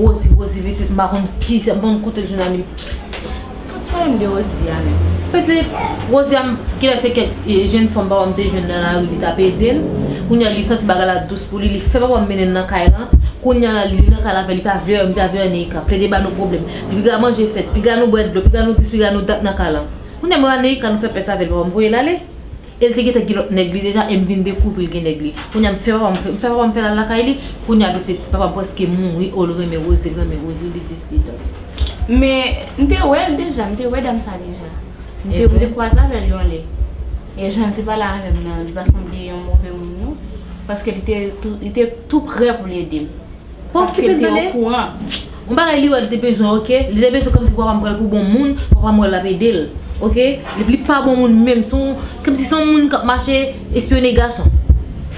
Rosie rosie pitit m pa konn ki jan banm kote jounal li Fout se pale m de rosie a menm Pitit rosie a kilè se kèk jenn fanm papa m te jwenn nan lari li tap ede l Kounya li santi bagay la dous pou li li fè papa m mennen l nan kay lan Kounya la li nan kay la avè li pa vle wè m li pa vle wè Neïka plede ba nou pwoblèm Piga manje fèt piga nou bwè dlo piga nou dis piga nou dat nan kay lan. Kounya m rale kan nou fè pès avèl papa m voyel ale el te gentan gen lòt nèg li deja em vin dekouvri l gen nèg li kounya m fè papa m m fè papa m fèl al lakay li kounya pitit papa m prèske mouri oo l renmen rozi l renmen rozi li jis li dan. Men m te wèl deja m te wè dam sa deja m te m te kwaze avèl yon lè e jan l te pale avèm nan li pa sanble yon move moun non paske li te tou li te tou prè pou l ede m. Pa okipe l tande. Paske l te okouran. Yon bagay li wè li te bezwen ok. Li te bezwen kòmsi papa m pral pou bon moun. Papa m wè l l ap ede l. Ok. Depi li pa bon moun menm. Se yon kòmsi se yon moun k ap mache espyone gason.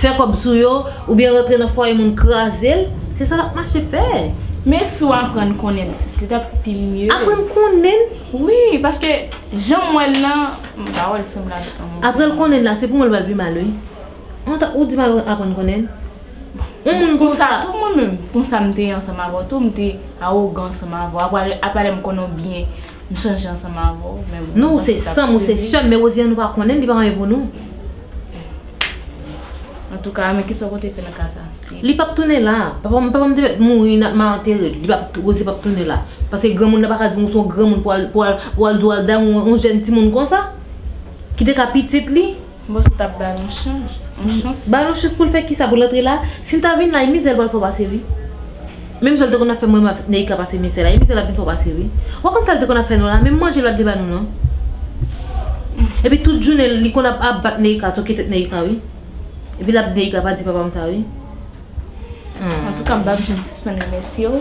Fè kòb sou yo. Oubyen rantre nan fwaye moun kraze l. Se sa l ap mache fè. Men si w aprann konnen l plis. Li t ap pi mye. Aprann konnen l? Wi. Paske jan m wè l lan. M pa wè l sanble avèk yon moun. Aprann konnen l la se pou mwen l pral pi mal wi. Ou di m aprann konnen l? Yon moun konsa tou mwen menm konsa m te ansanm avèw tou m te awogan ansanm avèw apa lèm konnen w byen m chanje ansanm avèw men bon non ou se sèm ou se sèm men Rosiane nou pa konnen li pa anyen pou nou antouka men kisa w konte fè nan ka sa li pap tounen la papam te mèt mouri nap mal antere l Rosie pap tounen la paske granmoun nan paka di m ou se yon granmoun pou wal di wal damou yon jèn timoun konsa ki te ka pitit li. Bon se tap ba nou chans. Ba nou chans poul fè kisa poul antre la sil ta vin la e mizèl pral fò pase wi menm jan l te konn ap fè mwen menm avk Neïka pase mizè la e mizè l ap vin fò pase wi wap konn sal te konn ap fè nou la menm manje l pat vle ba nou non epi tout jounen l li konn ap ap bat Neïka toke tèt Neïka wi epi lap di Neïka pa di papa m sa wi. Antouka m pap janm sispann remèsye w.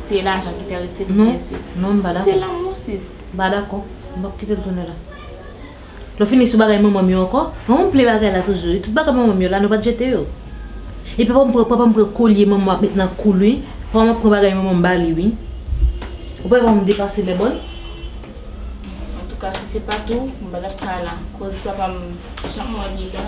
Se lajan ki terese li oubyen se. Non, non m pa dakò. Se lanmou sis. M pa dakò. M pap kite l tounen la. Nou fini sou bagay manman m yo ankò? Manman m plen bagay la toujou wi. Tout bagay manman m yo la nou pat jete yo. E papa m pran papa m pran kolye manman m ap met nan kou l wi. Papa m ap pran bagay manman m ba li wi. Ou pa wè papa m depase lè bon? Antouka si se pat ou m pa tap ka la. Koz papa m janm wè l li la.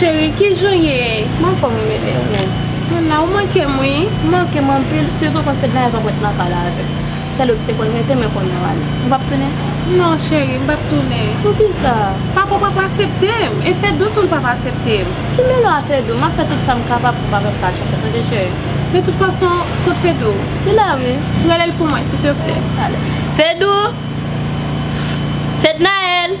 Cheri kijan w ye? Mwen anfòm wi bebe, ou menm? Mwen la, ou manke m wi. Ou manke m anpil, sitou kòm se dènye fwa mwen te nan kay la avè w. Sèl ou ki te konn rete men kounye a w ale. Ou pap tounen? Non cheri, m pap tounen. Poukisa? Papa w pap asepte m, e Fedou tou l pap asepte m. Ki mele w a Fedou? M ap fè tout sa m kapab pou papa m pa chanje tande cheri. De tout fason, kot Fedou? Li la wi. Rele l pou mwen, siteplè. Fedou! Fednaelle!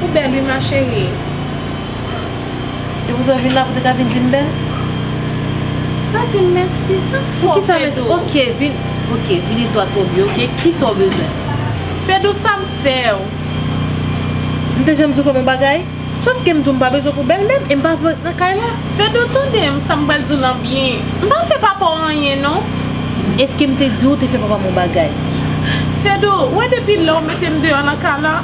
Ou bèl wi ma cherie. Depi w sot vin la pou te ka vin di m bèl? Pa di m mèsi sa k fè w Fedou? Ok vini dwat o bi ok kisa w bezwen? Fedou sa m fè w? M te janm di w fè m yon bagay? Sof ke m di w m pa bezwen pou bèlmè m e m pa vle l nan kay la. Fedou tande m sa m pral di w nan byen. M pa fè papa w anyen non. Eske m te di w ou te fè papa m yon bagay? Fedou, ou wè depi lè w mete m deyò nan kay la,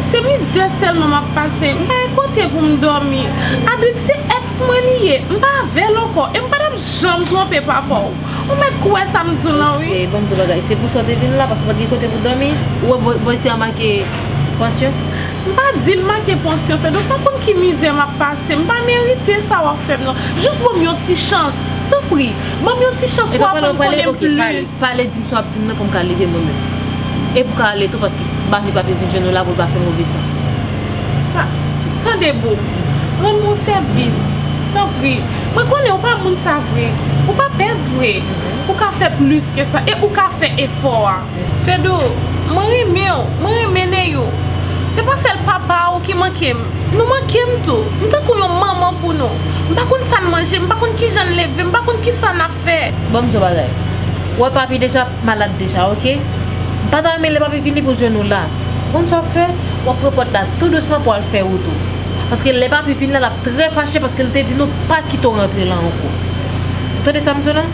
se mizè sèlman m ap pase. M pa gen kote pou m dòmi. Adric se èks mwen li ye. M pa avè l ankò e m pa t ap janm twonpe papa w. Ou mèt kwè sa m di w lan wi. E ban m di w yon bagay, se pou sa w te vin la paske w pa t gen kote pou w dòmi? Ou wè bòy si a make pansyon? M pa di m manke pansyon Fed, ou pa konn ki mizè m ap pase, m pa merite sa w ap fè m nan. Jis ban m yon ti chans, tanpri, ban m yon ti chans pou w aprann konnen m plis. Epa pale, epa pale, ok, pale, pale, di m sa w ap di m nan pou m ka leve mwen menm. E pou w ka ale tou paske Bafe pa vle vin jwenn ou la pou l pa fè move san. Pa, tande boo, rann mwen yon sèvis, tanpri, mwen konnen ou pa moun sa vre, ou pa pès vre, ou ka fè plis ke sa e ou ka fè efò a. Fedou, mwen renmen w, mwen renmen Neyou. Se pa sèl papa ou ki manke m. Nou manke m tou. M tankou yon manman pou nou. M pa konn sa n manje, m pa konn ki jan n leve, m pa konn ki sa n ap fè. Bon m di w yon bagay. Ou wè papi deja malad deja, oke. M pa ta renmen lè papi vini pou l jwenn ou la. Ou konn sa w ap fè? W ap pran pòt la tou dousman pou w al fè wout ou. Paske lè papi vin la, l ap trè fache paske l te di nou pa kite w rantre la ankò. Ou tande sa m di w la?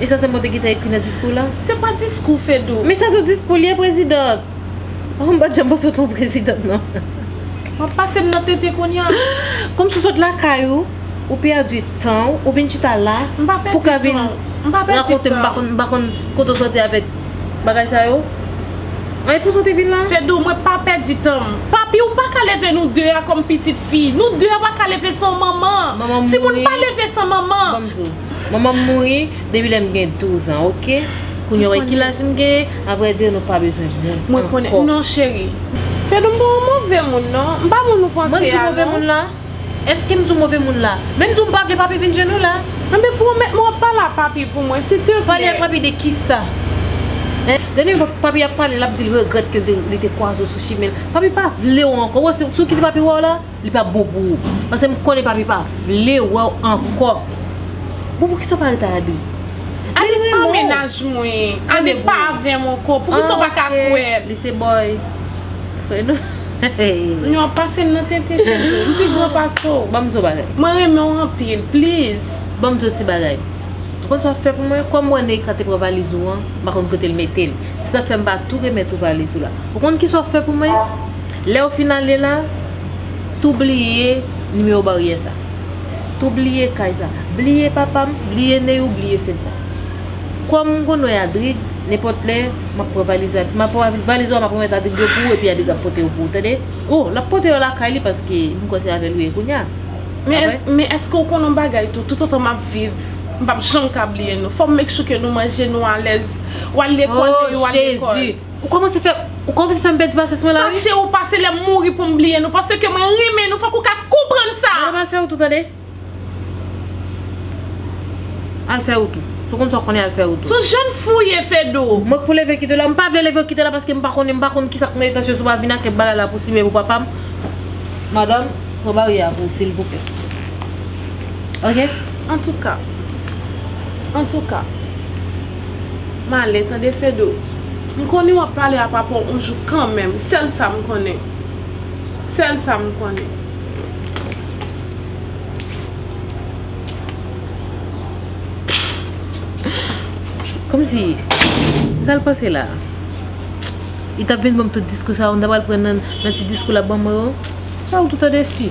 E sa Senbò te gentan ekri nan diskou l lan? Se pa diskou, Fedou! Men sa sou diskou l ye, President! Ohh, m pa t janm panse w te yon President non. W ap pase m nan tete kounya. Kòm si w sot lakay ou, ou pèdi tan w, ou vin chita la pou ka vin rakonte m, m pa konn kote w soti avèk bagay sa yo. An e pou sa w te vin la? Fedou, mwen pa pèdi tan m. Papi, ou pa ka leve nou 2 a kòm pitit fi. Nou 2 a pa ka leve san w manman. Manman m mouri. Timoun pa leve san manman. Ban m di w. Manman m mouri depi lè m gen 12 ans ok Kounye w wè ki laj m genyen A vrai dire nou pa bezwen moun ankò Non cheri Fedou m pa yon move moun non M pa moun ou panse a non Mwen m di w move moun la Eske m di w move moun la Men m di w m pa vle papi vin jwenn ou la Ebyen pwomèt mwen w ap pale a papi pou mwen silteplè Pale a papi de kisa Dènye fwa papi ap pale l ap di l regrèt ke li te kwaze w sou chimen l Papi pa vle w ankò Ou wè sou ki papi wè w la. Li pap bon pou ou. Paske m konnen papi pa vle wè w ankò. Bon poukisa w pa rete ak Adri? Adri renmen w. Li pa mennaj mwen. Adri pa avè m ankò. Poukisa w pa ka kwè l? Li se bòy. Frè nou. N ap pase m nan tenten toujou. M pi gran pase w. Ban m di w yon bagay. Mwen renmen w anpil. Please. Ban m di w yon ti bagay. Ou konn sa w ap fè pou mwen? Kòm m wè Neïka te pran valiz ou an, m pa konn kote l mete l. Se sa k fè m va tou remèt ou valiz ou la. Ou konn kisa w ap fè pou mwen? Lèw fin ale la, tou bliye nimewo baryè sa. Tou bliye kay sa. Bliye papam, bliye Neyou, bliye Fedna. Kòm m konn wè Adrig, nenpòt lè, m ap pran valiz Adrig. M ap pran valiz ou a, m ap remèt Adrig yo pou ou epi Adrig ap pote yo pou ou, tande. O, l ap pote yo lakay li paske m kwè se avè l ou ye kounya. Pa vre? Men èske ou konnen yon bagay tou, toutotan m ap viv, m p ap janm ka bliye nou. Fò m make sure ke nou manje, nou alèz. Ou al lekòl, Neyou al lekòl. O, Jezi! Ou komanse fè, ou komanse fèm pèdi pasyans mwen la wi. Fache ou pa se lèm mouri poum bliye nou paske mwen renmen nou fòk ou ka konprann sa. Mwen al fè retou tande. Al fè retou. Si w konn sa w konnen al fè retou. Son jèn fou w ye Fedou. Mwen k pou leve kite la. M pa vle leve kite la paske m pa konnen, m pa konn kisa k nan etasyon si w pa vin ak kèk bagay la pou simen pou papa m. Madanm, pran baryè a pou w silvouplè. Ok. Antouka. Antouka. Male tande Fedou. M konnen wap pale a papa w on jou kanmenm. Sèl sa m konnen. Sèl sa m konnen. Komsi sa l pase la? Li tap vin banm tout diskou sa yo m ta pral pran nan ti diskou lap banm yo? Sa yo tout tande fi.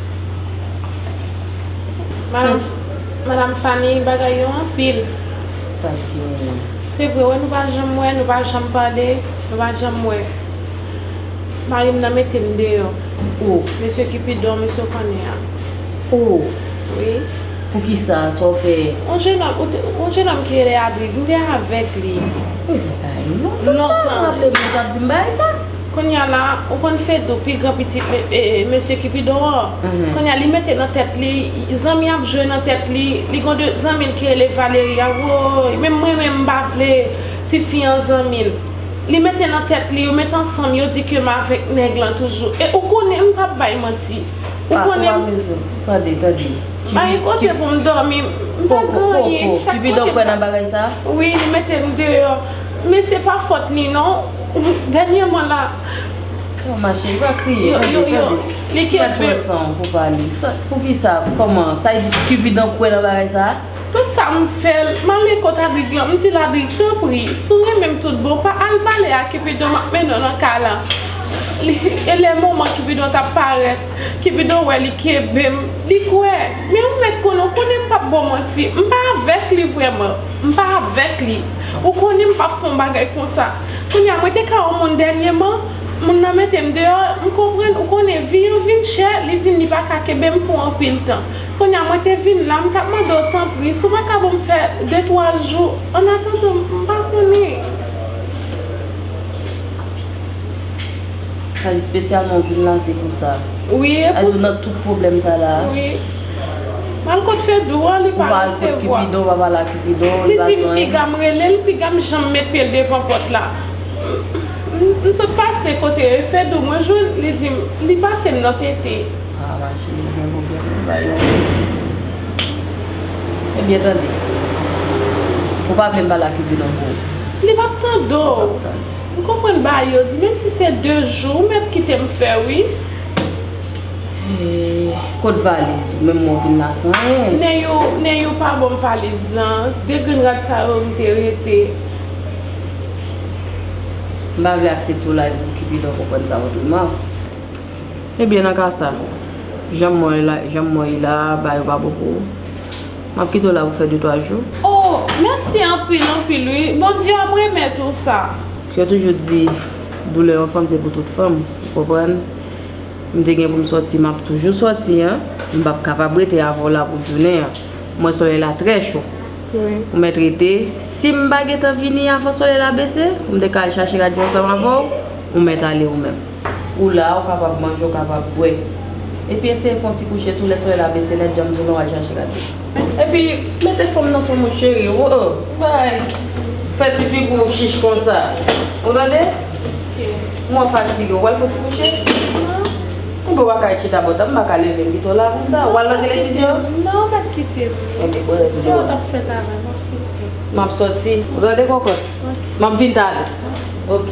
Madam Fanny bagay yo anpil. Sa ki genyen? Se vre wè nou pa janm wè, nou pa janm pale, nou pa janm wè. Mari m nan mete m deyò. O! Mesye Kipidon, mesye w konnen an. O! Wi. Pou ki sa? Sa w fè? On jenòm, on jenòm ki rele Adri, m te avèk li. Pou ki sa w ta ye? Lontan. Lontan. Sa w raple m, ou t ap di m bagay sa? Konnya la ou konn fedou pi gran pitit mesye kipidon an konnya li mete nan tèt li zanmi ap jwe nan tèt li li gon de zanmil ki rele valery a woyy menm mwen menm mpa vle tifi an zanmil li mete nan tèt li yo met ansanm yo di kem avèk nèg lan toujou e ou konnen mpap bay manti ou konnen m tande tande pa gen kote poum dòmi mpa gen anyen chak kote m ta wi li metem deyò. Men se pa fòt li non dènyèman la. Yo ma cheri pa kriye tande tande ki bat pran san w pou pale poukisa kòman sa vle di kipidan kwè nan bagay sa a. Tout sa m fè l m ale kot Adrik lan m di l Adrik tanpri si w renmen m tout bon pa al pale a kipidon m ap mennen w nan kay la e lè moman kipidon t ap parèt kipidon wè li kenbe m li kwè men ou mèt konnen w konnen m p ap ba w manti m pa avèk li vrèman. M pa avèk li. Ou konnen m pap fè yon bagay konsa. Kounye a, mwen te ka yon moun dènyeman, moun nan mete m deyò, m konprann, ou konnen, vi an vin chè, li di m li pa ka kenbe m pou anpil tan. Kounye a, mwen te vin la, m t ap mande w tanpri, si w pa ka ban m fè de twa jou, annatandan, m pa konnen. Sa espesyalman ou vin la se pou sa? Wi, e pou sa. Aytou nan tout pwoblèm sa la a? Wi. Al kot fedou an li pa resevwa. Li di m piga m rele l piga m janm met pye l devan pòt la. M sot pase kote e fedou mwen jwenn li di m li pase m nan tete. Li pap tande w. M konprann bayo di menm si se 2 jou ou mèt kite m fè wi. Kot valiz ou menm ou vin la san anyen. Neyou neyou pa banm valiz lan de grenn rad sa yo m te rete. M pa vle aksepte w la epi pou Cupidon konprann sa otreman. Ebyen nan ka sa janm mwen la janm mwen ye la ba yo pa bon pou ou. M ap kite w la pou fè de twa jou. Oh mèsi anpil anpil wi Bondye ap remèt ou sa. Yo toujou di doulè yon fanm se pou tout fanm ou konprann. M te gen pou m sòti, m ap toujou sòti an. M p ap kapab rete avè w la pou jounen an. M wè solèy la trè cho. Ou mèt rete. Si m pa gentan vini avan solèy la bese, pou m te ka al chache radyo ansanm avè w, ou mèt ale ou menm. Ou la, ou kapab manje, ou kapab bwè. Epi eseye fè yon ti kouche tou lè solèy la bese nèt jan m di w la w al chache radyo. Epi mete fanm nan fanm ou cheri oh oh ou pa fè ti figi w chich konsa ou tande m wè w fatige ou pral fon ti kouche m wè w kay chita bò tab m paka leve m pito la konsa wal nan televizyon non mèt kite m ok bon resi kè w tap fè travay m ap fout pran m ap soti ou tande kokot m ap vin tale ok.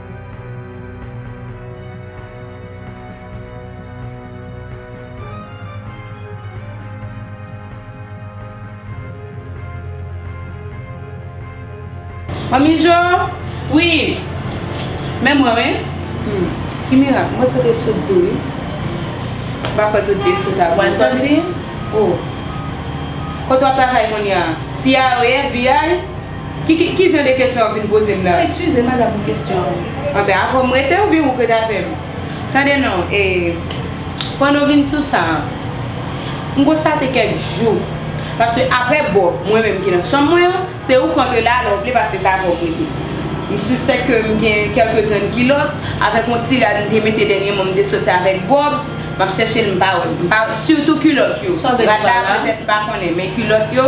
Manmi Jo, Wi, men mwen wi Humm, ki mirak, mwen sot e sot tou wi M pa kwè tout defo ta bon sa Manzanzin, O, kote w ap travay kounya? Siya, Wi, FBI? Ki jan de kesyon wap vin poze m la? Ekskuze m madam pou kesyon an. Anben avè w m rete oubyen wou k rete avè m? Tande non e Pran nou vin sou sa an. M konstate kèk jou paske aprè Bob mwen menm ki nan chanm mwen an se ou k antre la a lè w vle paske se avè w m rete. M sispèk ke m gen kèlke grenn kilòt avèk yon ti rad m te mete dènyèman m te soti avèk Bob m ap chèche l m pa wè l. M pa wè sitou kilòt yo. Rad la petèt m pa konnen men kilòt yo.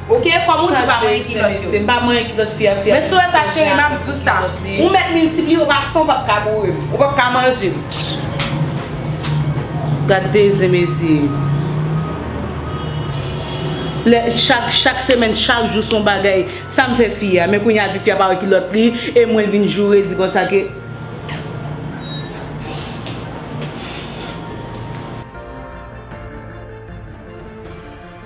Ok kom ou di pa mwen ki lot yo. Se pa mwen ki lot fi a fi a. Men sou wè sa cheri map diw sa. Ou met miltipliye ou pa san ou pap ka bourem. Ou pap ka manjem. Gad de zen mezi. Le chak chak semen chak jou son bagay. Sam fe fi a. Men kounya di fi a pa wè ki lot li. E mwen vin joure di konsa ke.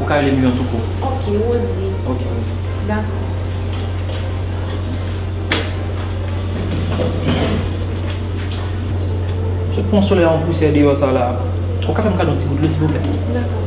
Ou ka rele m Lion tou kou. Ok, Rosie. Ok, Rosie. Dakò. Sot pran solèy an pousyè deyò sa la. Ou ka fè m kado yon ti gout dlo silvouplè? Dakò.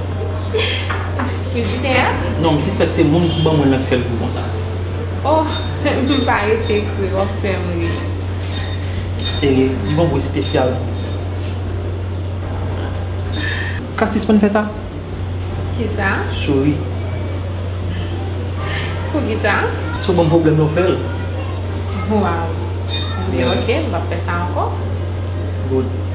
Frijidè a? Non, m sispèk se moun ki ban mwen lan k fè l gou konsa. Oh, m pa rete kri, w ap fè m ri. Serye, li gon gou espesyal. Ou ka sispann fè sa? Kisa? Souri. Poukisa? Sa w ban m pwoblèm lè w fè l. Waw. Bon, ok, m pa p fè sa ankò. Good.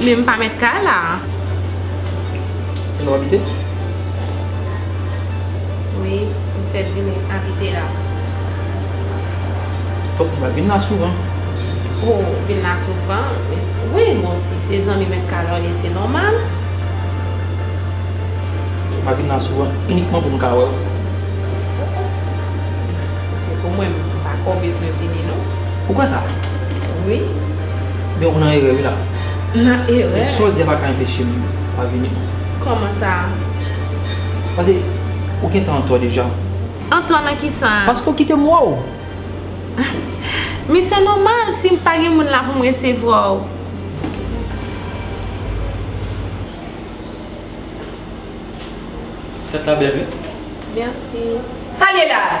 Men m pa mèt kay la a. E nou abite? Wi, m fèt vin abite la. Fòk nou va vin la souvan. O, vin la souvan? Wi, bon si se zanmi mèt kay la w ye se nòmal. Fòk mwen vin la souvan inikman pou m ka wè w. Si se pou mwen, m pa kwè w bezwen vini non. Ou kwè sa? Wi. Donk ou nan erè wi la. Nan erè? Se sa w di a pa ka enpeche m pa vini non. Kòman sa? Pase ou gen tan antò deja. Antò nan ki sans? Paske ou kite m wè w. Men se nòmal si m pa gen moun la pou m resevwa w. Tèt la bèl wi. Mèsi. Sa l ye la a?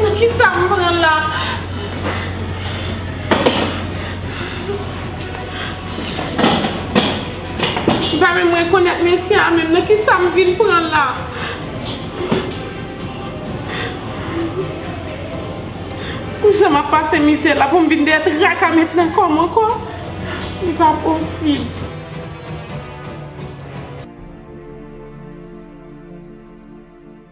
Nan kisa m pran la? M pa menm rekonèt mesye a menm. Nan kisa m vin pran la? Pou jan m ap pase mizè la pou m vin gen traka met nan kò m ankò? Li pa posib.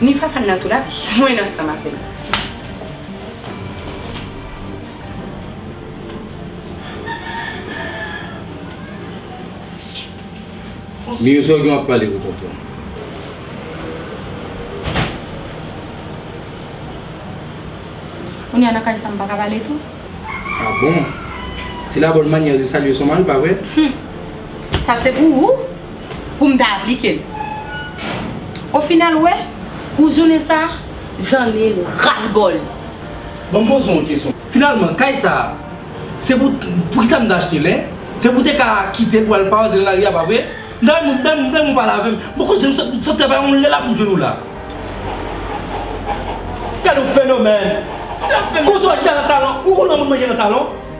Ni Fafane nan tou lap jwenn ansanm avè l. Mirzo gen wap pale wi tonton. Kounya nan kay sa m paka pale tou. Ah bon? Se la bonne manière de saluer son mari pa vre? Humm sa se pou ou? pou m ta aplike l. O final ou wè, pou jounen sa a, Jeanny ras l bò l. Ban m poze w yon kesyon. Finalman, kay sa a, se pou, pou kisa m te achte l, hein? Se pou te ka kite l pou al pawaze nan lari a, pa vre? M ta renmen, m ta renmen ou pale avè m. M poko janm sot, sot travay yon lè la pou m jwenn ou la. Gad yon fenomèn! Konsa w achte a nan salon, ou konn lè moun manje nan salon?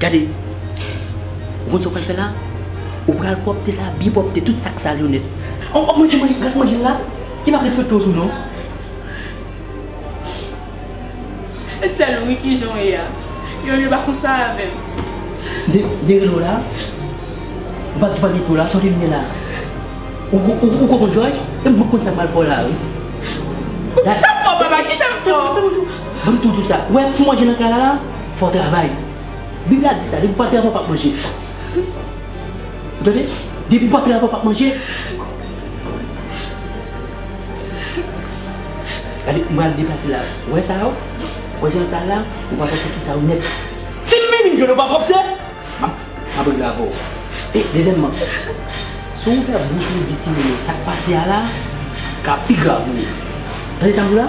Gade, ou konn sa w pral fè la? Ou pral pwòpte la, byen pwòpte, tout sa k sal yo nèt. O, o, manje, manje, rès manje l la, li pa p respekte w tou non. E sèl ou wi ki jan w ye a. Yon lye pa konsa avè m. De, dere l ou la. Ou pa depande pou w la, sòti limyè la. Ou, ou, ou konprann w Jòj? E m, m konn sa m pral fè w la wi. Pou kisa m fè w papa, kisa m fè w? Ban m tou, tou sa. Ou wè pou manje nan kay la la? Fò travay. Bib la di sa, depi w pa travay w pap manje. Ou tande? Depi w pa travay w pap manje. Gade, m pral deplase la. Ou wè sa yo? Ou wè jan l sal la? Ou pral pase sou sa yo nèt. Si m vini m jwenn yo pa pwòpte, m ap abone avè w. E, dezyèmman, si w fè bouch ou di timoun yo sa k pase a la, ka pi grav pou ou. Tande sa m di w la?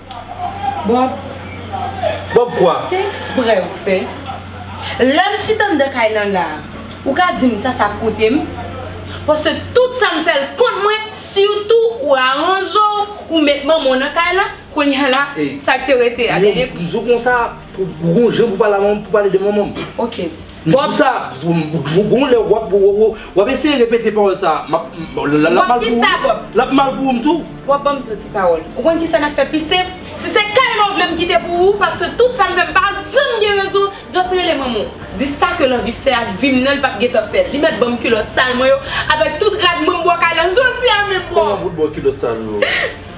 Bob. Bob kwa? Se ekspre ou fè? Lè m chita anndan kay lan la a, ou ka di m sa sa ap koute m? Paske tout sa m fè l kont mwen, sitou ou aranjè w, ou met manman w nan kay lan, kounye a la, sa k te rete a, dènye. M di w konsa, pou w gon jan pou w pale a manman m, pou w pale de manman m. Ok. Pawòl sa a, gon lè w ap eseye repete pawòl sa a, l ap mal pou ou m di w. Bon, ban m di w ti pawòl. Ou konn ki sa n ap fè pi senp? Si se kay la w vle m kite pou ou, paske tout sa m fè m pa janm gen rezon, just rele manman w. Di sa ke lanvi fè ak vi m nan li p ap gen tan fè l. Li mèt ban m kilòt sal mwen yo avèk tout rad mwen m bò kay la jodi a menm bro! Koman pou l ba w kilòt sal ou yo?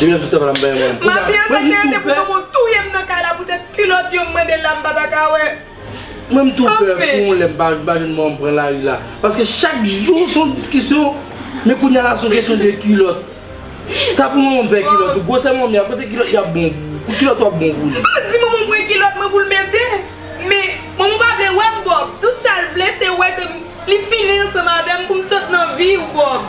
Li menm sou tèm la m bay manti. Mati an sa se pou yon moun touye m nan kay la pou tèt kilòt yo m mande l la m pa ta ka wè. Mwen m tou pè pou yon lè m pa jwenn mò m pran lari la. Paske chak jou son diskisyon men kounya la son kesyon de kilòt. Sa pou manman m fè kilòt ou. Gwosè manmi a kote kilòt li ap bon pou ou. Kilòt wap bon pou li. Li pa di manman m pran kilòt mwen pou l mete. Men, Momo pa vle wè m Bob. Tout sa l vle se wè ke m li fini ansanm avè m pou m sot nan vi ou Bob.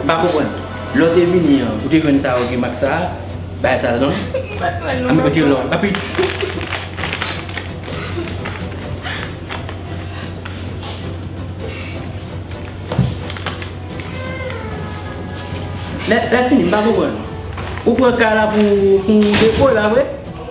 M pa konprann. Lè w te vini an, ou te jwenn sa yo gen mak sa a? Bagay sal non. M pa konprann non papa. Retire lò a. Lè fini m pa konprann. Ou pran ka la pou depo la vre?